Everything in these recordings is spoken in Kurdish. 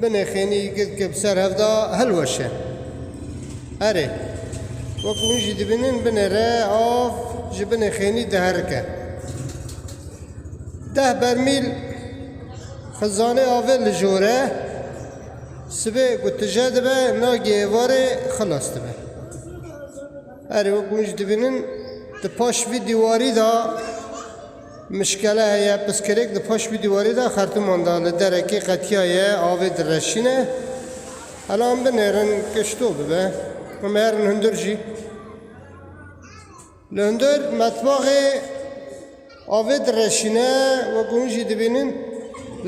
Binê xênî gil ke bi ser hev da hilweşe. Erê, wek hûn jî dibînin binê re av ji binê xênî diherike. Deh bermîl xizanê avê li jor e, sibê ku tije dibe nagê êvarê xilas dibe. Erê, wek hûn jî dibînin di paş vî dîwarî da Mişkele heye, piskirêk di paş wî dîwarê de xertiman da li derekê qetiyaye, avê direşîne. Hela em binêrin ke ji to bibe. Em herin hundir jî. Li hundir metbaxê avê direşîne wek hûn jî dibînin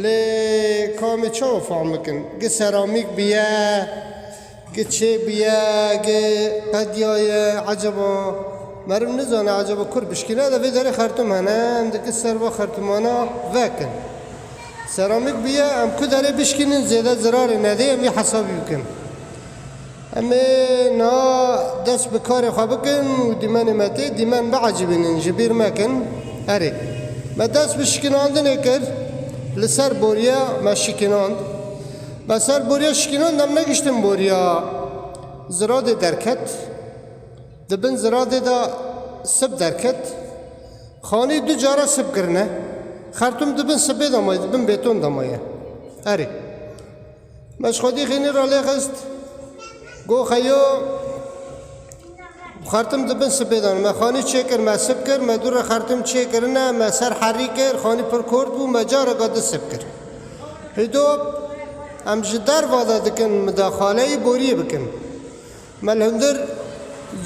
lê kamê çawa fehm bikin. Gi seramîk biye. Ke çê bûye ke qediya ye eceba meriv nizane eceba kurd bişkîne de vê derê xertum hene em dikin ser va xertumana vekin. Seramîk bûye em ku derê bişkînin zêde zirarê nedê em vê hesabî bikin. Em ê niha dest bi karê xwe bikin û dîmenê me tê dîmen biecîbînin ji bîr mekin. Erê me dest bi şikînandinê kir li ser boriya me şikînand. Be ser boriya şikînan dem negiştin boriya ziradê derket. Di bin ziradê de sib derket. Xanî du cara sib kirine. Xertum di bin sibê de maye, di bin bêton de maye. Erê. Me ji xwedî xênî ralêxist. Goxeyo. Xertim di bin sipê de ne. Me xanî çêkir, me sip kir, me dû re xertim çêkirine, me ser herî kir, xanî pir kort bû, me careke di sip kir. Hîdo, em ji derva de dikin min de xaleyî borîyê bikin. Me li hundir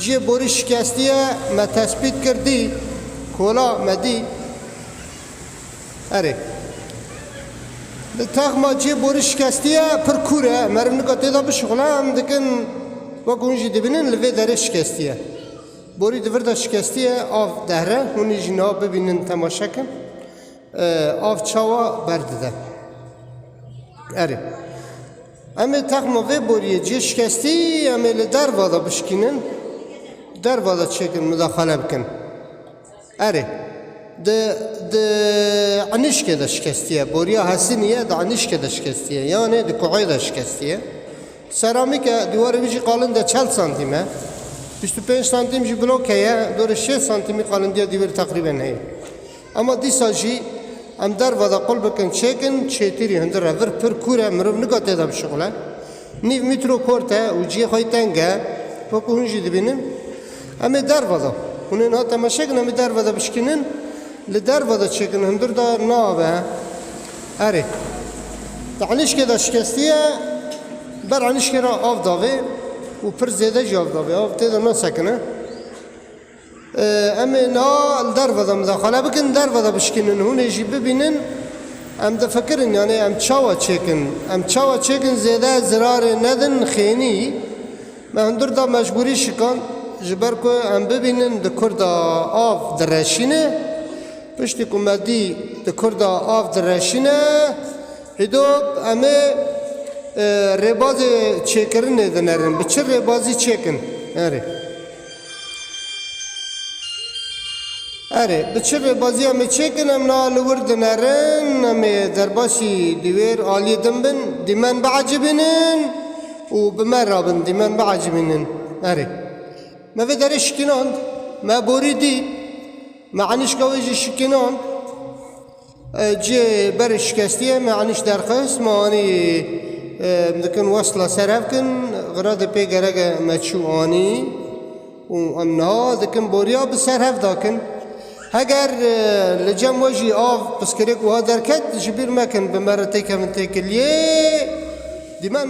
ciyê borî şikestiye, me tesbît kir dî, kola me dî. Erê. Di texma cê borî şikestî ye, pir kûr e, meriv nika tê de bişuxile, em dikin wek hûn jî dibînin li vê derê şikestî ye. Borî di vir de şikestî ye, av dehre, hûn ê jî niha bibînin temaşe kin. Av çawa berdide. Erê. Em ê texma vê boriyê cê şikestî em ê li derva de bişikînin, derva de çêkin midaxale bikin. Erê. Di di enişkê de şikestiye. Boriya Hesinîye di enişkê de şikestiye. Yanê di kueyê de şikestiye. Seramîk e, dîwarê wî jî qalin de çel santîm e. Bîst û pênc santîm jî bloke ye, dorê şêst santîmî qalindiya dîwêr teqrîben heye. Ema dîsa jî em derva de qul bikin çêkin, çêtîrî hundir e, vir pir kûr e, mirov nika tê de bişuxile. Nîv mîtro kort e û cihê xwe yê teng e. Wekû hûn jî dibînin em ê derve de hûn ê niha temeşe kin em ê derve de bişkînin li derve de çêkin hundir de nabe. Erê di enişkê de şikestî ye ber enişkê re av davê û pir zêde jî av davê av tê de nasekine. Em ê niha li derve de midexane bikin, derve de bişkînin, hûn ê jî bibînin. Em difikirin yanê em çawa çêkin? Em çawa çêkin zêde zirarê nedin xênî? Me hundir da mecbûrî şikand ji ber ku em bibînin di kur de av direşîne. Piştî ku me dî di kur de av direşîne, hîdop em ê rêbazê çêkirinê dinerin, bi çi rêbazî çêkin? Erê. Erê, bi çi be baziya me çêkin em na li wir dinerin, em ê derbasî di wêr aliyê din bin, dîmen biecibînin û bi me re bin, dîmen biecibînin. Erê. Me vê derê şikînand, me borî dî, me enîşka wê jî şikînand. Cê berê şikestiyê me anîşt derxist, me anî em dikin wesla ser hev kin, xira de pê gerek e me çû anî û em niha dikin boriya bi ser hev da kin. Heger li cem we jî av piskirik wiha derket ji bîr mekin bi me re têkevin têkiliyê dîmen.